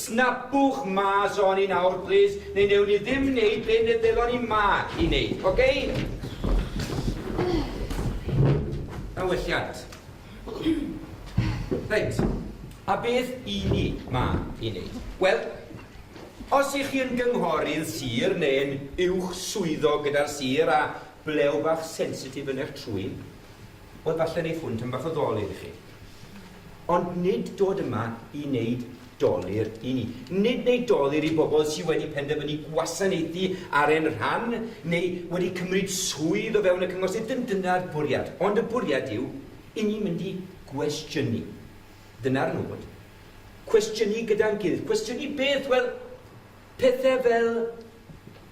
Snapwch mas ohoni nawr plîs, neu newn ni ddim neud be' ne' ddylan ni 'ma i neud, oce? Da welliant. Reit, a beth 'yn ni 'ma i neud? Wel, os 'ych chi yn gynghorydd sir ne'n uwch swyddog gyda'r sir a blew bach sensitif yn eich trwyn, wel falle neiff hwn tyn' bach o ddol iddi chi. Ond nid dod yma i neud Dolur i ni. Nid neu dolur i bobl sydd wedi penderfynu gwasanaethu ar ein rhan neu wedi cymryd swydd o fewn y Cyngor sydd yn dyna'r bwriad. Ond y bwriad yw i ni mynd i gwestiynu. Dyna'r nod. Cwestiynu gyda'n gilydd. Cwestiynu beth? Wel, pethau fel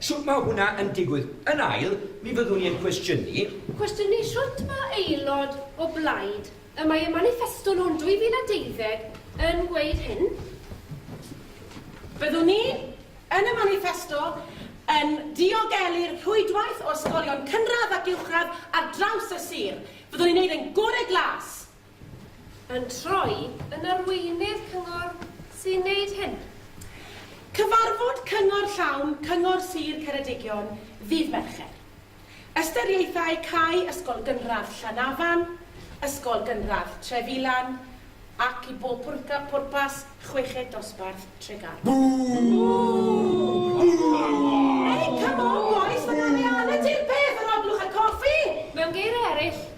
Shwt mae hwnna yn digwydd? Yn ail, mi fyddwn i yn cwestiynu. Cwestiynu shwt mae aelod o blaid y mae y maniffesto nhw'n 2012 yn gweud hyn? Fyddwn ni, yn y maniffesto, yn diogelu'r rhwydwaith o ysgolion cynradd ac uwchradd ar draws y sir. Fyddwn ni'n wneud ein gorau glas. yn troi yn arweinydd cyngor sy'n wneud hyn. Cyfarfod cyngor llawn Cyngor Sir Ceredigion ddydd Mercher. Ystyriaethau cau Ysgol Gynradd Llanafan, Ysgol Gynradd Trefilan ac i bob pwrpas chweched dosbarth Tregaron. Bŵ! Bŵ! Ei, come on bois, mae 'na arian yn deud peth ar ol blwch a coffi! Mewn geiriau eraill,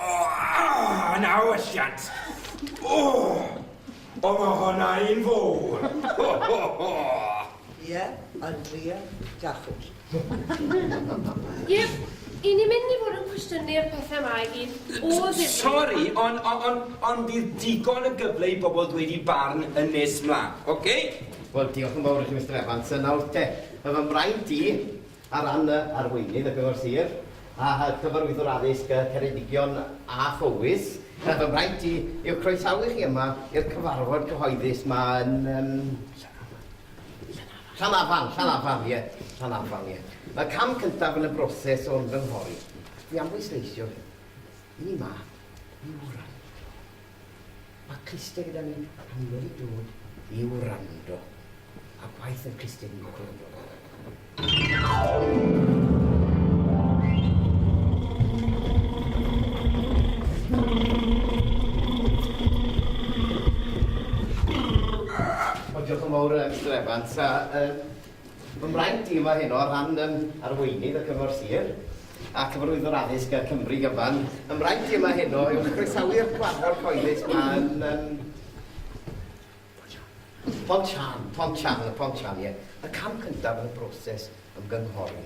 Oh, yn awelliant! Oh, o mae hwnna un fawr! Ho, ho, ho! Ie, Andrea, gallwch. Ie, i ni mynd i fod yn cwestiynu'r pethau yma i gyd o ddifri. Sori, ond on, on, on bydd digon o gyfle i bobl ddweud i barn yn nes mlaen, oce? Okay? Wel, diolch yn fawr i chi, Mister Evans. Nawr te, mae fy mraint i, Ar ran y Arweinydd y Cyngor Sir a Chyfarwyddwr Addysg Ceredigion a Phowys, mae fy mhraint i yw croesawu chi yma i'r cyfarfod cyhoeddus 'ma yn yym Llanafan, Llanafan, ie, Llanafan, ie. Mae'r cam cyntaf yn y broses o ymgynghori, dwi am bwysleisio hyn, i ni 'ma i wraidd. Mae clustiau gyda ni a ni wedi dod i wrando. A gwaith yr clustiau fi'n gwybod yn dod Wel, diolch yn fawr, Mister Evans, a Fy mraint i yma heno ar ran yn Arweinydd y Cyngor Sir a Cyfarwyddwr Addysg y Cymru gyfan. Fy mraint i yma heno yw croesawu'r cyfarfod cyhoeddus ma yn um, Pont Sian, Pont Sian, y Pont Sian, ie. Y cam cyntaf yn y broses ymgynghori.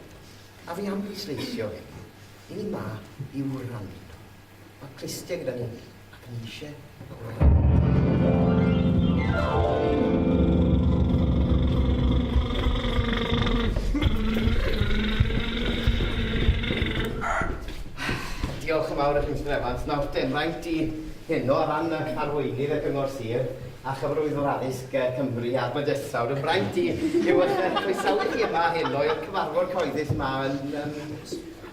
A fi am bwysleisio hyn. I ni ma i wrando. Mae Cristie gyda ni, ac ni eisiau Diolch yn fawr i chi, Mr Evans. Nawr, dim rhaid i hyn o ran y arweinydd y Cyngor Sir a chyfarwyddwr addysg Cymru a'r Bydysawd. Yn rhaid i yw eich croesawu chi yma hyn o'r cyfarfod cyhoeddus yma yn... Um,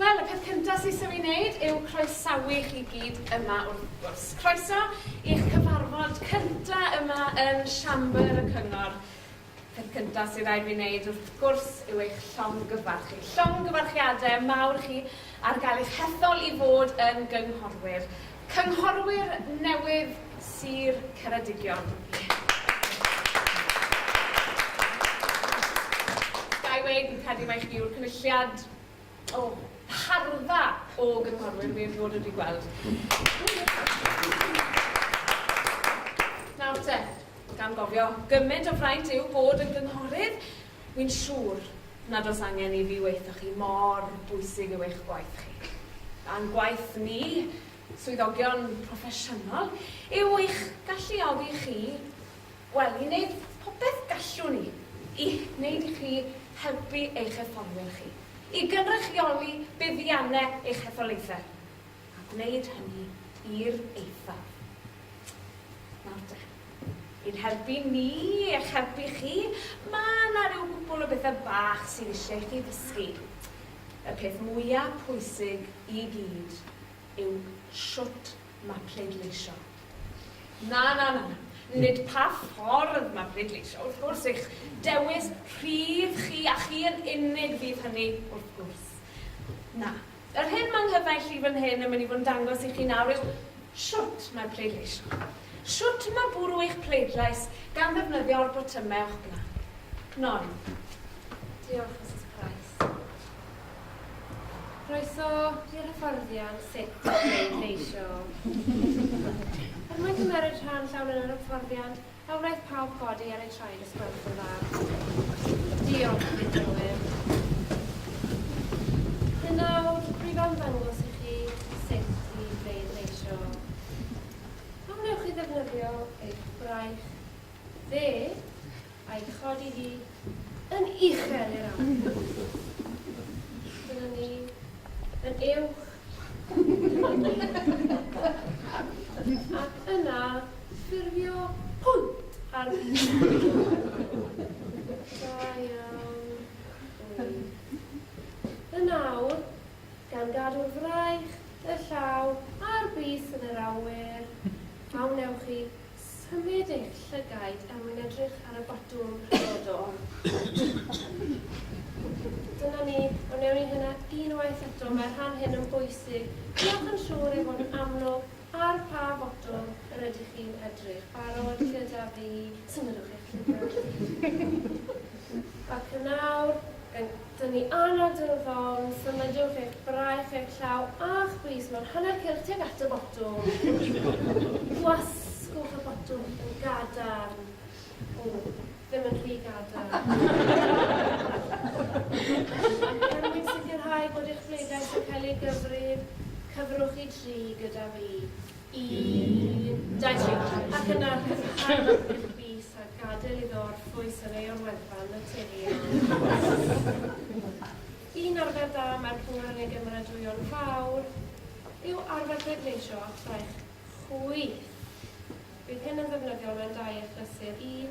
Wel, y peth cyntaf sy'n isio ei wneud yw croesawu chi gyd yma wrth gwrs. Croeso i'ch cyfarfod cyntaf yma yn Siambr y Cyngor. Peth cyntaf sy'n rhaid fi wneud wrth gwrs yw eich llongyfarchu. Llongyfarchiadau mawr chi ar gael eich hethol i fod yn gynghorwyr. Cynghorwyr newydd Sir Ceredigion. Ga i weud, fi'n credu mai chi yw'r cynulliad o harfa o gynghorwyr fi erioed wedi gweld. Nawr te, gan gofio, gymaint o fraint yw bod yn gynghorydd, Wi'n siŵr nad oes angen i fi weutho chi mor bwysig yw eich gwaith chi. A'n gwaith ni, swyddogion proffesiynol, yw eich galluogi chi, wel, i wneud popeth gallwn ni i wneud i chi helpu eich etholwyr chi i gynrychioli buddiannau eich hetholaethau, a gwneud hynny i'r eithaf. Nawr de. I'n helpu ni i'ch helpu chi, mae yna ryw gwpwl o bethe bach sydd isie i chi ddysgu. Y peth mwya pwysig i gyd yw shwt mae pleidleisio. Na, na, na, nid pa ffordd mae pleidleisio, wrth gwrs, eich dewis rhydd chi a chi yn unig fydd hynny, wrth gwrs. Na, Yr hyn mae nghyfaill i fan hyn yn mynd i fod yn dangos i chi nawr yw shwt mae pleidleisio. Shwt mae bwrw eich pleidlais gan ddefnyddio'r botymau o'ch blaen. Noel. Diolch, Misus Price. Croeso i'r hyfforddiant sut i bleidleisio. Er mwyn cymeryd rhan llawn yn yr hyfforddiant, A wnaeth pawb godi ar eu traed y sgwrs yn dda. Diolch, Dylwyn. Yn nawr, rwyf am ddangos i chi sut i bleidleisio. A wnewch chi ddefnyddio eich braich dde a'i chodi hi Yn uchel i'r awyr. Dyna ni. Yn uwch. Dyna ni. Ac yna ffurfio pwynt ar Da iawn. Ŵyr. Yn awr, gan gadw'r fraich, y llaw, a'r bys yn yr awyr, a wnewch chi Symud eich llygaid er mwyn edrych ar y botwm rhyfeddol. Dyna ni, ond newn ni hynna unwaith eto, mae'r rhan hyn yn bwysig. Diolch yn siŵr ei fod yn amlwg ar pa fotwm yr ydych chi'n edrych. Barod gyda fi? Symudwch eich llygaid. Ac yn awr, yn Dyn ni annog dy ofn, symudwch eich braich, eich llaw a'ch bys mewn hanner cylch tuag at y botwm. Gwasgwch y botwm yn gadarn. O, ddim yn rhy gadarn. Ac er mwyn sicrhau bod eich bleidlais yn cael ei gyfrif, cyfrwch i dri gyda fi. i Dedrick ac yna cysgod y pum fis a gadael iddo orffwys yn ei orweddfa naturiol. Un arfer da mae'r pŵer yn ei gymeradwyo'n fawr yw arfer pleidleisio a ffraich chwith. Bydd hyn yn ddefnyddiol mewn dau achlysur, un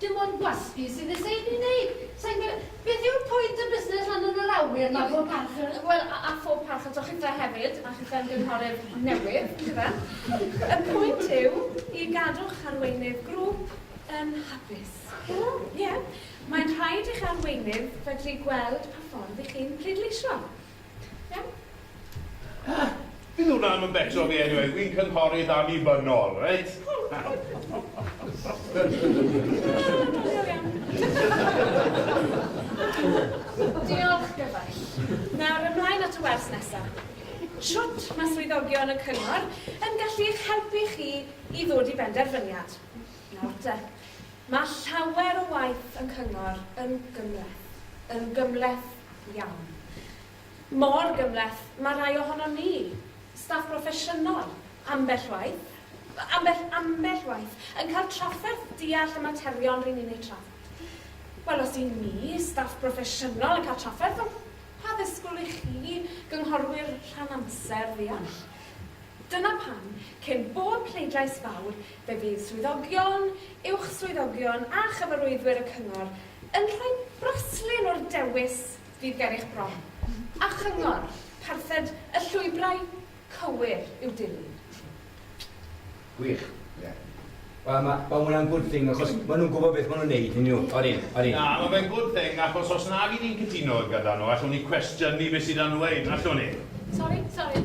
Dim ond gwasgu sy'n nes ei wneud. Sa i'n gwe-. Beth yw'r pwynt o busnes lan yn yr awyr na phob parch iddo fe? Wel, a phob parch ato chithe hefyd, a chithe ymgynghorydd newydd, yndyfe? Y pwynt yw i gadw'ch arweinydd grŵp yn hapus. Wel, ie. Mae'n rhaid i'ch arweinydd fedru gweld pa ffordd 'y chi'n pleidleisio. Fydd hwnna ddim yn bettro fi eniwe, wi'n cynghorydd annibynnol, reit? Diolch, gyfaill. Nawr, ymlaen at y wers nesa. Shwt mae swyddogion y cyngor yn gallu eich helpu chi i ddod i benderfyniad? Nawr de, mae llawer o waith y Cyngor yn gymhleth, yn gymhleth iawn. Mor gymhleth, mae rhai ohonon ni, staff broffesiynol, ambell waith, ambell, ambell waith, yn cael trafferth deall y materion ry'n ni'n eu trafod. Wel, os y'n ni, staff broffesiynol, yn cael trafferth, wel, pa ddisgwyl i chi, gynghorwyr rhan-amser, ddeall? Dyna pam, cyn bob pleidlais fawr, Fe fydd swyddogion, uwch-swyddogion a chyfarwyddwyr y Cyngor yn rhoi braslun o'r dewis fydd ger eich bron, a chyngor, parthed y llwybrau cywir i'w dilyn. Gwych. Ie. Wel, ma', ma' hwnna'n good thing, achos maen nhw'n gwybod beth maen nhw'n wneud, yn dyn nhw? Odi, odi. Na, ma' fe'n good thing, achos os nag y'n ni'n cytuno gyda nhw, allwn ni cwestiynu beth sydd am ddweud, allwn ni? Sori, sori.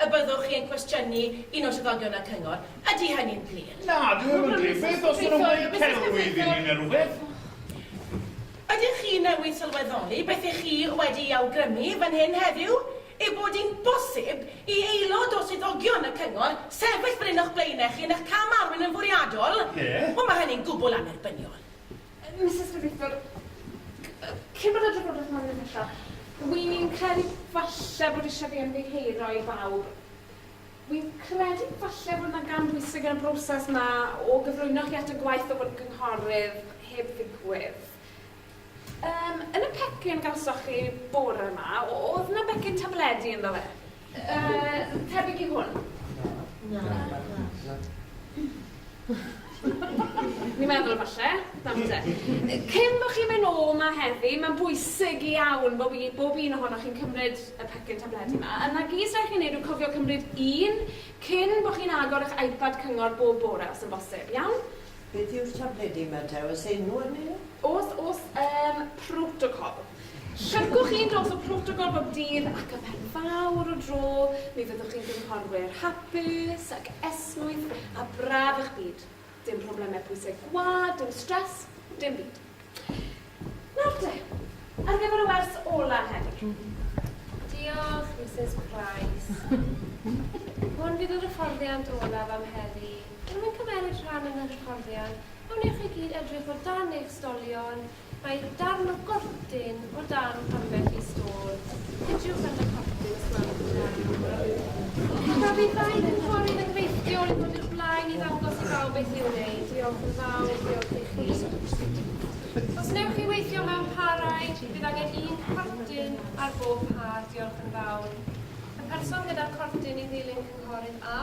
Y byddwch chi yn cwestiynu un o swyddogion y cyngor? Ydy hynny'n glir? Na, dyw e ddim yn glir. Beth os ydyn nhw'n gwneud celwydd i ni neu rhywbeth? Ydych chi newydd sylweddoli beth ych chi wedi'i awgrymu fan hyn heddiw, yw bod hi'n bosib i aelod o swyddogion y cyngor sefyll fan hyn o'ch blaenau chi yn eich cam-arwain yn fwriadol? Ie. Wel, mae hynny'n gwbl annerbyniol. Misus Debuthiwr, cyn bod adran Bwrdeistref Môn yn mynd allan, wi'n credu falle bod isie fi ymddiheuro i bawb. Wi'n credu falle bod 'na gam bwysig yn y broses 'ma o gyflwyno chi at y gwaith o fod yn gynghorydd heb ddigwydd. Yym, yn y pecyn gawsoch chi bore 'ma, o'dd 'na becyn tabledi ynddo fe? Yy, tebyg i hwn. Na. Ni'n meddwl falle, nawr te. Cyn bo' chi'n mynd nôl 'ma heddi, mae'n bwysig iawn bo' fi, bob un ohonoch chi'n cymryd y pecyn tabledi 'ma. A 'na gys rai' chi neud yw cofio cymryd un cyn bo' chi'n agor 'ych iPad Cyngor bob bore os yn bosib, iawn? Beth yw'r tabledi 'ma te, oes enw arnyn nhw? O's, o's, yym, protocol. Llyfrgwch un dros y protocol bob dydd ac ymhen fawr o dro mi fyddwch chi'n gynghorwyr hapus ac esmwyth a braf eich byd. Dim problemau pwysau gwlad, dim stress, dim byd. Nawr de, ar gyfer y wers ola heddi. Diolch, Misus Price. Hwn fydd yr hyfforddiant olaf am heddi. Unrhyw un cymeryd rhan yn yr hyfforddiant, a wnewch chi gyd edrych o dan eich stolion Mae darn o gortyn o dan ambell i stôl. Cydiwch at y cortyn os gwelwch yn dda. Tra bydd dau gynghorydd yn gweithio i ddod i'r blaen i ddangos i bawb beth i'w wneud, diolch yn fawr, diolch i chi. Os newch chi weithio mewn parau, bydd angen un cortyn ar bob par, diolch yn fawr. Y person gyda'r cortyn i ddilyn cynghorydd A.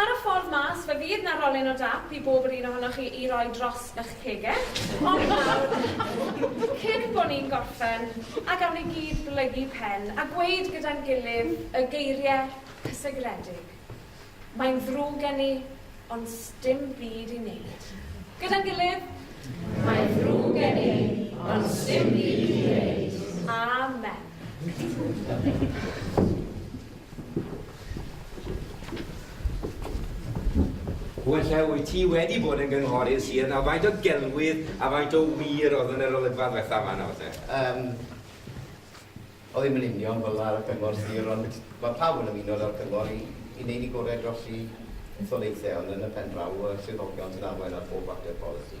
Ar y ffordd mas, fe fydd 'na rolyn o dap i bob yr un ohonoch chi i roi dros y'ch cegell, ond nawr, cyn bo' ni'n gorffen, a gawn ni gyd blygu pen a gweud gyda'n gilydd y geirie cysegredig, Mae'n ddrwg gen i, ond sdim byd i neud. Gyda'n gilydd. Mae'n ddrwg gen i, ond sdim byd i neud. Amen. Wella, wyt ti wedi bod yn gynghorydd sir nawr, faint o gelwydd a faint o wir oedd yn yr olygfa ddwetha yma nawr te? Um, o ddim yn union fel ar y cyngor sir, ond mae pawb yn ymuno ar cyngor i, i wneud i gorau dros i etholaethau, ond yn y pen draw, y swyddogion sy'n arwain ar bob fater polisi.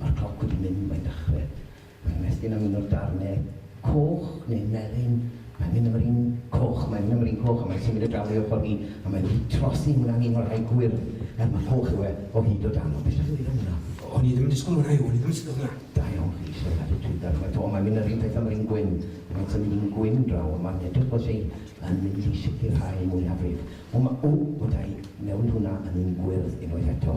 Mae'r cloc wedi mynd, mae'n dechrau. Mae'n ymestyn am un o'r darnau coch, neu melyn. Mae'n mynd am yr un coch, mae'n mynd am yr un coch, a mae'n symud o dan ei ochr hi, a mae'n wedi trosi i hwnna'n un o'r rhai gwyrdd, er mai coch yw e, o hyd o dan o. Be sy'n hwyr am hwnna? O'n i ddim yn disgwyl hwnna, Huw, o'n i ddim yn disgwyl hwnna. Da iawn chi, Llŷn, a dwi'n darllen eto, o, mae'n mynd yr un peth am yr un gwyn, a mae'n symud un gwyn draw, a mae'n edrych fel lle'i yn mynd i sicrhau mwyafrif. O, ma', o, o, da i, newid hwnna yn un gwyrdd unwaith eto.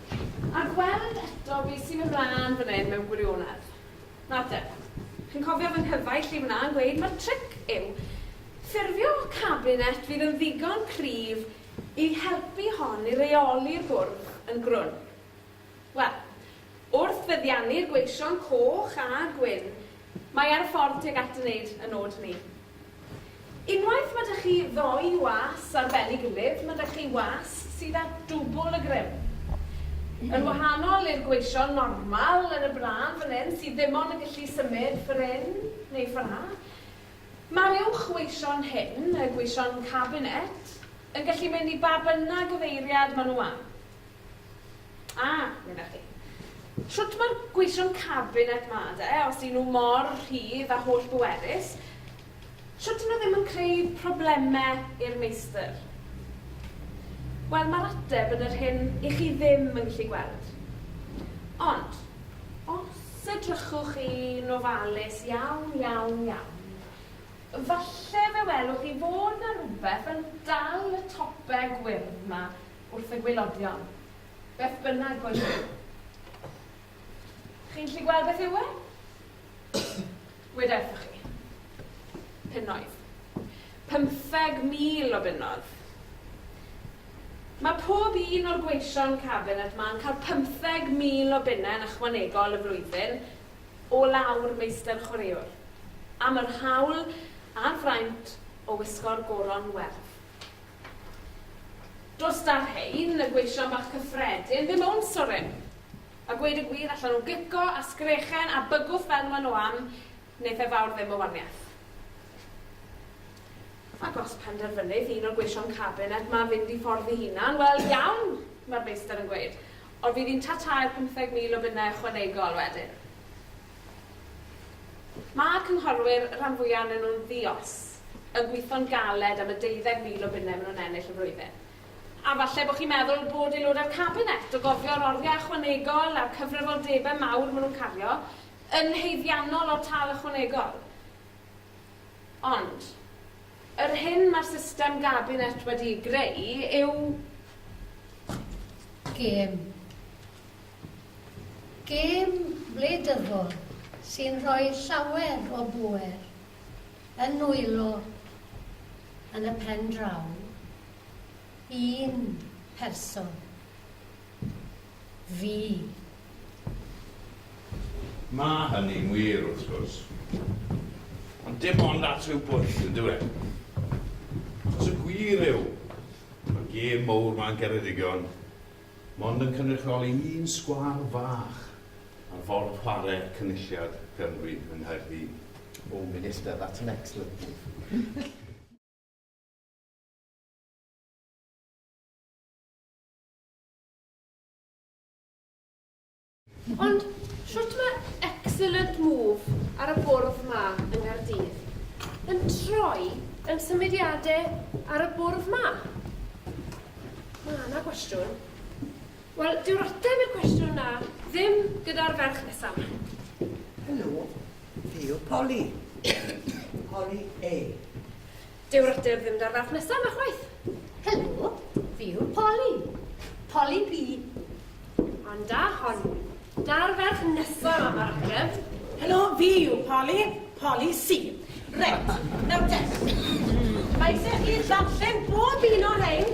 A gweld eto be sy'n ymlân fan hyn mewn gwirionedd. Nawrte, chi'n cofio fy nghyfaill i fan'na yn gweud mai'r tric yw ffurfio cabinet fydd yn ddigon cryf i helpu hon i reoli'r bwrdd yn grwn. Wel, wrth feddiannu'r gweision coch a gwyn, mae ar y ffordd tuag at wneud y nod 'ny. Unwaith ma' 'da chi ddoi was ar ben ei gilydd, ma' 'da chi was sydd â dwbl y grym. Yn wahanol i'r gweision normal yn y brân fan hyn, sydd ddim ond yn gallu symud ffor hyn neu ffor 'na, ma'r uwch weision hyn, y gweision cabinet, yn gallu mynd i ba bynnag gyfeiriad ma' nhw am. A, meddach chi, shwt mae'r gweision cabinet 'ma de, os y'n nhw mor rhydd a holl bwerus, shwt y'n nhw ddim yn creu problemau i'r meistr? Wel, mae'r ateb yn yr hyn i chi ddim yn gallu gweld. Ond, os edrychwch chi'n ofalus iawn, iawn, iawn, falle fe welwch chi fod 'na rywbeth yn dal y tope gwyrdd 'ma wrth y gwaelodion, beth bynnag bo' nhw. Chi'n gallu gweld beth yw e? Weda wrthoch chi. Punnoedd. 15,000 o bunnodd. Mae pob un o'r gweision cabinet ma'n cael 15,000 o bunne yn ychwanegol y flwyddyn o lawr meistr chwaraewr am yr hawl a'r fraint o wisgo'r goron werdd. Does da rhein, y gweision bach cyffredin, ddim own soryn. A gweud y gwir, allan o gico a sgrechen a bygwth fel ma nhw am, neith e fawr ddim o waniath. Ac os penderfynydd un o'r gweision cabinet ma fynd i ffordd i hunan, wel, iawn, ma'r meistr yn gweud, ond fydd hi'n ta-tai'r pymtheg mil o bunne ychwanegol wedyn. Ma'r cynghorwyr, rhan fwya o'nyn nhw'n ddi-os. yn gweithio'n galed am y deuddeg mil o bunnau maen nhw'n ennill y flwyddyn. A falle bod chi'n meddwl bod aelodau'r Cabinet, o gofio'r oriau ychwanegol a'r cyfrifoldebau mawr maen nhw'n cario, yn haeddiannol o'r tâl ychwanegol. Ond, yr hyn mae'r system Gabinet wedi'i greu yw gêm. Gêm wleidyddol sy'n rhoi llawer o bŵer Yn nwylo yn y pen draw un person. Fi. Mae hynny'n wir, wrth gwrs. Ond dim ond at ryw bwyll, yn dyw e? Achos y gwir yw, mae'r gêm mowr 'ma'n Geredigion. mond yn cynrychioli un sgwâr fach ar Ford Chware Cynulliad Cymru yng Nghaerdydd. Oh Minister, that's an excellent move. Ond shwt mae excellent move ar y bwrdd ma yng Nghaerdydd yn troi yn symudiadau ar y bwrdd ma? Mae yna gwestiwn. Wel, dyw'r ateb i'r cwestiwn na ddim gyda'r ferch nesaf. Helo, fi yw Polly. Polly A. Dyw'r ystyr ddim da'r ferf nesa 'ma chwaith. Helo, fi yw'r Poli. Poli P. Ond da hon. Da'r ferf nesa 'ma ma'r ateb. Helo, fi yw Poli. Poli C. Reit, nawr te. Mae isie chi ddarllen bob un o rhein.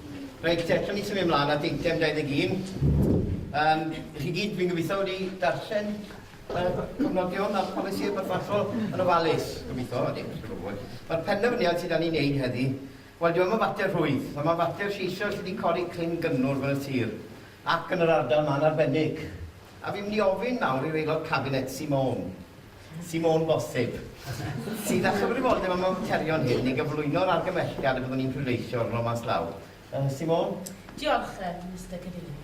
Reit, eto ni symud ymlaen at eitem 21. Um, I chi gyd, fi'n gobeithio wedi darllen y cofnodion a'r polisi y barbarthol yn ofalus, gobeithio, a ddim chi'n gwybod. Mae'r penderfyniad sydd dan ni'n neud heddi, wel, dwi'n meddwl fater rhwydd, a mae'n fater lleisiol sydd wedi codi clyn gynnwr fel y sir, ac yn yr ardal ma'n arbennig. A fi'n mynd i ofyn nawr i'r aelod cabinet sy'n mawn, sy'n mor bosib, sydd â chyfrifoldeb am y materion hyn neu gyflwyno'r argymhelliad y byddwn ni'n pleidleisio arno mas law. Yy, Simone? Diolch, yy, Mister Cadeirydd.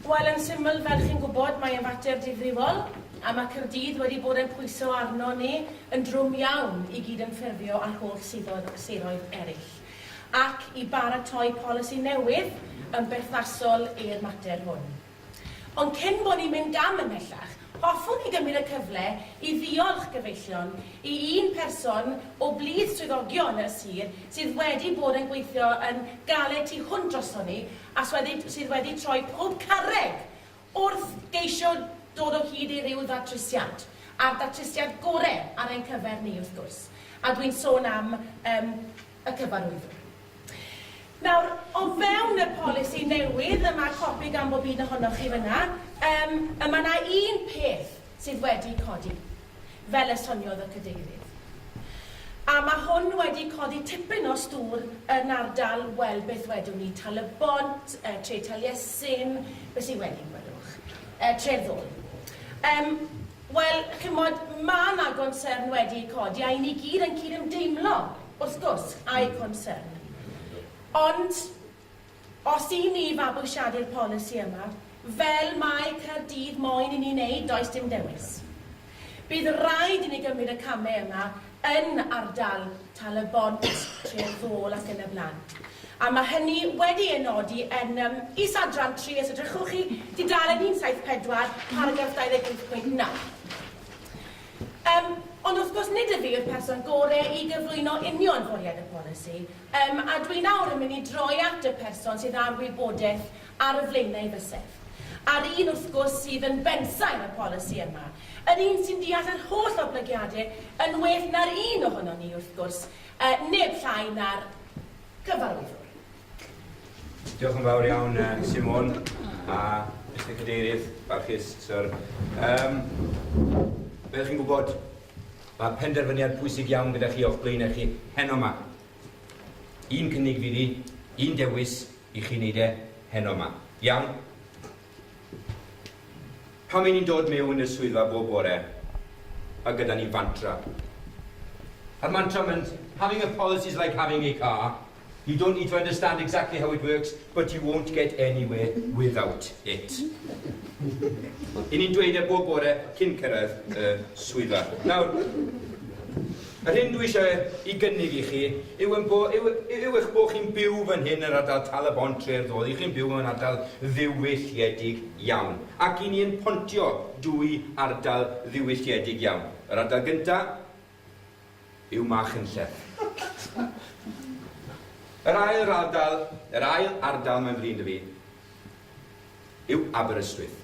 Wel, yn syml, fel chi'n gwybod, mae e'n fater difrifol, a mae Caerdydd wedi bod yn pwyso arno ni yn drwm iawn i gydymffurfio â'r holl siroedd, siroedd eraill, ac i baratoi polisi newydd yn berthnasol i'r mater hwn. Ond cyn bo ni'n mynd gam ymhellach, hoffwn i gymryd y cyfle i ddiolch gyfeillion i un person o blith swyddogion y sir sydd wedi bod yn gweithio yn galed tu hwnt droson ni a sydd wedi troi pob carreg wrth geisio dod o hyd i ryw ddatrysiad, a'r datrysiad gore ar ein cyfer ni wrth gwrs, a dwi'n sôn am yym. y Cyfarwyddwr. Nawr, o fewn y polisi newydd, a mae copi gan bob un ohonoch chi fan'na, yym, y mae 'na un peth sydd wedi codi, fel y soniodd y Cadeirydd. A mae hwn wedi codi tipyn o stŵr yn ardal, wel, beth wedwn ni, Tal-y-bont, yy Tre Taliesin, be sy wedi, gwelwch? Yy, Tre'r Ddôl. Yym. Wel, chimod, ma' 'na gonsern wedi ei codi, a 'yn ni gyd yn cydymdeimlo, wrth gwrs, â'i gonsern. Ond, os y'n ni i fabwysiadu'r polisi yma, fel mae Caerdydd moyn i ni wneud, does dim dewis. Bydd raid i ni gymryd y camau yna, yn ardal Tal-y-bont, Tref Ddôl ac yn y blaen. A mae hynny wedi ei nodi yn yym is-adran tri, os edrychwch chi, dudalen 174, paragraff 28.9. Yym, ond wrth gwrs nid ydw i yw'r person gore i gyflwyno union fwriad y polisi, yym, a dwi nawr yn mynd i droi at y person sydd â'r wybodaeth ar y flaenau bysedd, a'r un wrth gwrs sydd yn bensaer y polisi yma, yr un sy'n deall yr holl oblygiade yn well na'r un ohonon ni, wrth gwrs, yy neb llai na'r Cyfarwyddwr. Diolch yn fawr iawn, yy, Simon, a Mister Cadeirydd, barchus, Syr. Yym, fel ydych chi'n gwybod, mae penderfyniad pwysig iawn gyda chi o'ch blaenau chi heno 'ma. Un cynnig fydd hi, un dewis, i chi wneud e heno 'ma. Iawn? Pam 'yn ni'n dod mewn i'r swyddfa bob bore a gyda ni fantra? A'r mantra mewn having a policy is like having a car, you don't need to understand exactly how it works, but you won't get anywhere without it. 'yn ni'n dweud e bob bore cyn cyrraedd y swyddfa. Nawr, Yr hyn dw i eisiau ei gynnig i chi yw ein bo- yw, yw eich bod chi'n byw fan hyn yn ardal Tal-y-bont tre'r Ddodd, y'ch chi'n byw mewn ardal ddiwylliedig iawn, ac i ni yn pontio dwy ardal ddiwylliedig iawn. Yr ardal gynta' yw Machynlleth. Yr ail ardal, yr ail ardal mae'n flin 'da fi, yw Aberystwyth.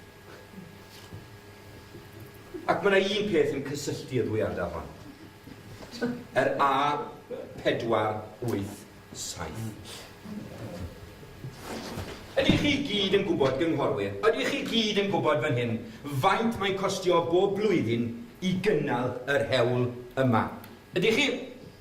Ac mae yna un peth yn cysylltu y ddwy ardal hon. Yr A 487. Ydych chi gyd yn gwybod, gynghorwyr, ydych chi gyd yn gwybod fan hyn faint mae'n costio bob blwyddyn i gynnal yr hewl yma? Ydych chi?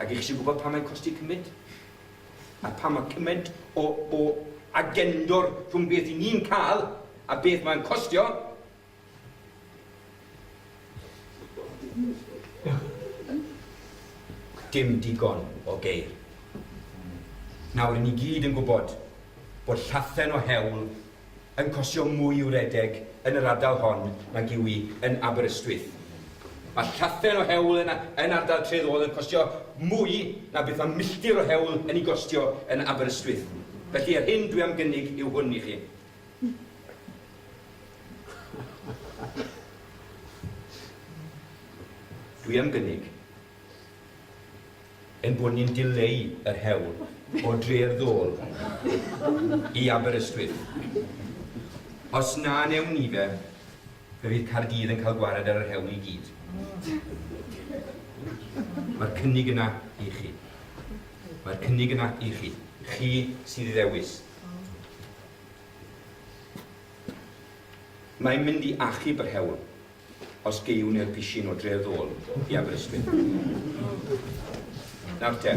A dych chi eisiau gwybod pam mae'n costi cymaint? A pam mae cymaint o, o agendor rhwng beth i ni'n cael a beth mae'n costio? Dim digon o geir. Nawr, i ni gyd yn gwybod bod llathen o hewl yn costio mwy i'w redeg yn yr ardal hon nag ywi yn Aberystwyth. Mae llaffen o hewl yn yn ardal Tref Ôl yn costio mwy na beth mae milltir o hewl yn ei gostio yn Aberystwyth. Felly yr hyn dwi am gynnig yw hwn i chi. Dwi am gynnig. ein bod ni'n dileu yr hewl o dre'r ddôl i Aberystwyth. Os na wnewn ni fe, fe fydd Caerdydd yn cael gwared ar yr hewl i gyd. Mae'r cynnig yna i chi. Mae'r cynnig yna i chi. Chi sydd i ddewis. Mae'n mynd i achub yr hewl. os geiwn i'r pishin o Dre'r Ddôl i Aberystwyth. Nawr te,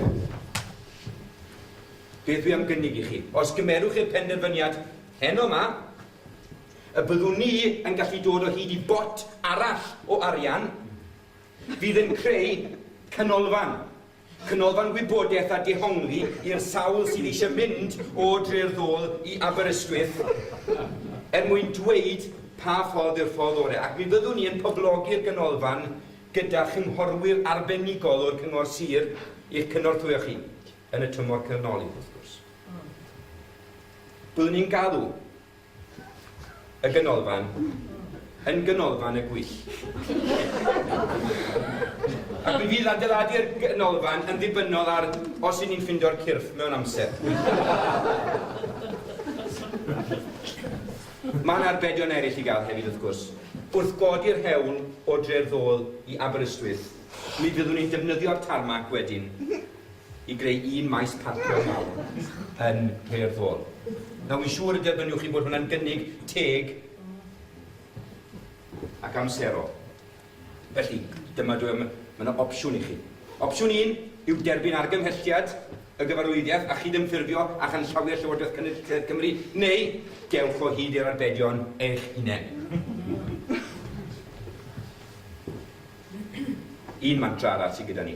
beth dwi am gynnig i chi? Os gymerwch i'r penderfyniad heno yma, y byddwn ni yn gallu dod o hyd i bot arall o arian fydd yn creu canolfan Canolfan gwybodaeth a dehongli i'r sawl sydd eisiau mynd o Dre'r Ddôl i Aberystwyth er mwyn dweud pa ffordd yw'r ffordd orau ac mi fyddwn ni yn poblogi'r ganolfan gyda chynghorwyr arbenigol o'r Cyngor Sir i'ch cynorthwyo chi yn y tymor canolig wrth gwrs. Byddwn ni'n galw Y Ganolfan, yn Ganolfan y Gwyll. Ac mi fydd adeiladu'r Ganolfan yn ddibynnol ar os i ni'n ffindio'r cyrff mewn amser. Mae yna arbedion eraill i gael hefyd wrth gwrs. Wrth godi'r hewl o Dre'r Ddôl i Aberystwyth, mi fyddwn ni'n defnyddio'r tarmac wedyn i greu un maes parcio mawr yn Nhre'r Ddôl. Nawr, fi'n siŵr y derbyniwch chi bod hwnna'n gynnig teg ac amserol. Felly, dyma dwi am, mae yna opsiwn i chi. Opsiwn un yw derbyn argymhelliad y gyfarwyddiaeth a chydymffurfio â chanllawiau Llywodraeth Cynulliad Cymru, neu dewch o hyd i'r arbedion eich hunain. Un mantra arall sydd gyda ni.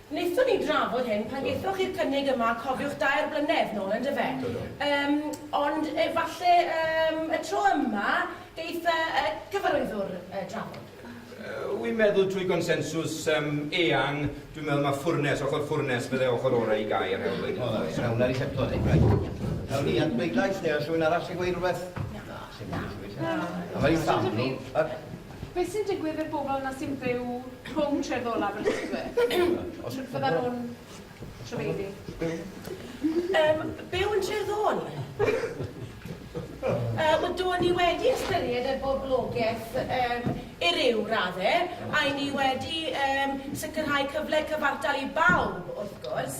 Wnaethon ni drafod hyn pan gaethoch chi'r cynnig yma, cofiwch, dair blynedd nôl, yn dyfe? Do, do. Yym, ond efallai yym y tro yma geith y y Cyfarwyddwr yy drafod. Wi'n meddwl trwy gonsensws yym eang, dwi'n meddwl ma' ffwrnes, ochr ffwrnes, fydde ochr orau i gau yr hewl wedyn. O, reit, rhawn ni ar i setlo hyn, reit. Awn ni at bleidlais, neu oes rhywun arall sy'n gweud rhywbeth? Na, sim byd, sim byd. Na. Awn ni i fam, ni. Beth sy'n digwydd i'r bobl yna sy'n byw rhwng tref ddol Aberystwyth? Fyddan nhw'n trafeilu? Yym, byw yn tref ddol? Yy, wel, do ni wedi ystyried y boblogaeth um, i ryw radde, a i ni wedi um, sicrhau cyfle cyfartal i bawb, wrth gwrs.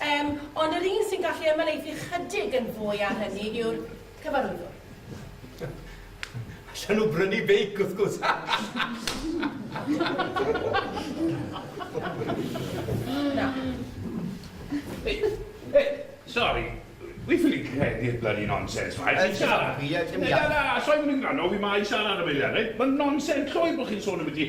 Um, ond yr un sy'n gallu ymhelaethu chydig yn fwy ar hynny yw'r cyfarwyddwr. Allan nhw brynu beic, wrth gwrs. Na. Ei, ei, sori. Wi ffili credu'r bloody nonsens ma. Ti'n siarad? Ie, ti'n iawn. Na, na, os oeddwn i'n gwrando, fi ma i siarad am eiliad, reit? Mae'n nonsens llwyr bod chi'n sôn am y di.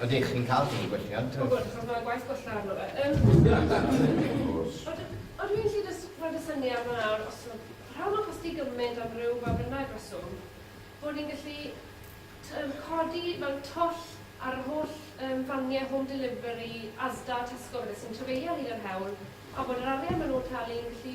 Ydych chi'n cael chi gwelliant? O gwrs, achos mae gwaith gwella arno fe. Ond dwi'n gallu jyst rhoi y syniad yma nawr, os yw rhan o'n costi gymaint am ryw ba bynnag reswm, bod ni'n gallu codi fel twll ar yr holl faniau home delivery, Asda, Tesco, sy'n trafeilio ar hyd yr hewl, a bod yr arian maen nhw'n talu yn gallu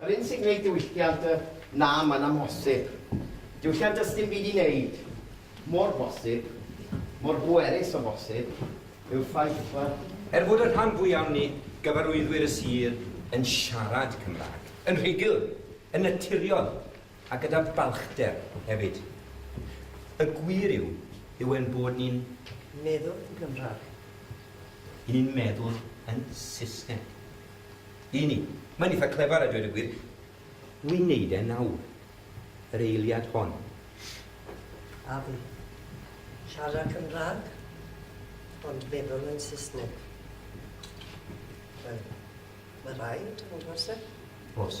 Yr un sy'n gwneud diwylliant y na mae'n amhosib. Diwylliant does dim byd i wneud. Mor bosib, mor bwerus o bosib, yw'r ffaith fod. Er fod y rhan fwyaf o ni, gyfarwyddwyr y sir, yn siarad Cymraeg, yn rhugl, yn naturiol, A gyda balchder hefyd. Y gwir yw, yw ein bod ni'n meddwl yn Gymraeg. I ni'n meddwl yn Saesneg. I ni. Mae'n eitha clefar a dweud y gwir. Wi'n neud e nawr. Yr eiliad hon. A fi. Siarad Cymraeg, ond meddwl yn Saesneg. Wel, mae rhaid, ond oes e? Oes.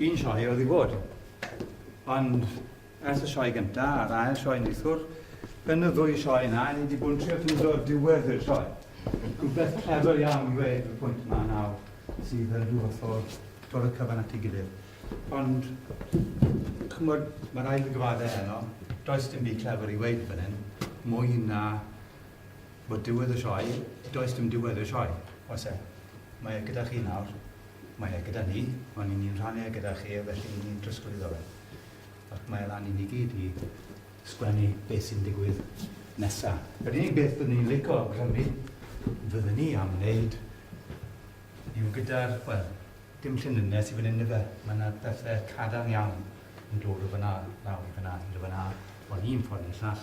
Un sioe oedd i fod, ond ers y sioe gyntaf a'r ail sioe neithwr, yn y ddwy sioe yna, ni wedi bod yn trio ffeindio diwedd i'r sioe. Rhywbeth clever iawn i wneud y pwynt yma nawr sydd yn rhyw fath o dod y cyfan at ei gilydd. Ond, chymod, mae rhaid i gyfaddau heno, does dim byd clever i wneud fan hyn, mwy na Bod diwedd y sioe, does dim diwedd i'r sioe. Oes e? Mae e gyda chi nawr. Mae e gyda ni, ond i ni'n rhannu e gyda chi, felly i ni'n trosglwyddo fe. Ac mae e lan i ni gyd i sgwennu beth sy'n digwydd nesa. Yr unig beth byddwn ni'n lico awgrymu fydden ni am wneud yw gyda'r, wel, dim llinynnau sydd fan hyn ife, mae yna bethau cadarn iawn yn dod o fan'na lawr i fan'na, i fan'na, ond un ffordd neu'r llall,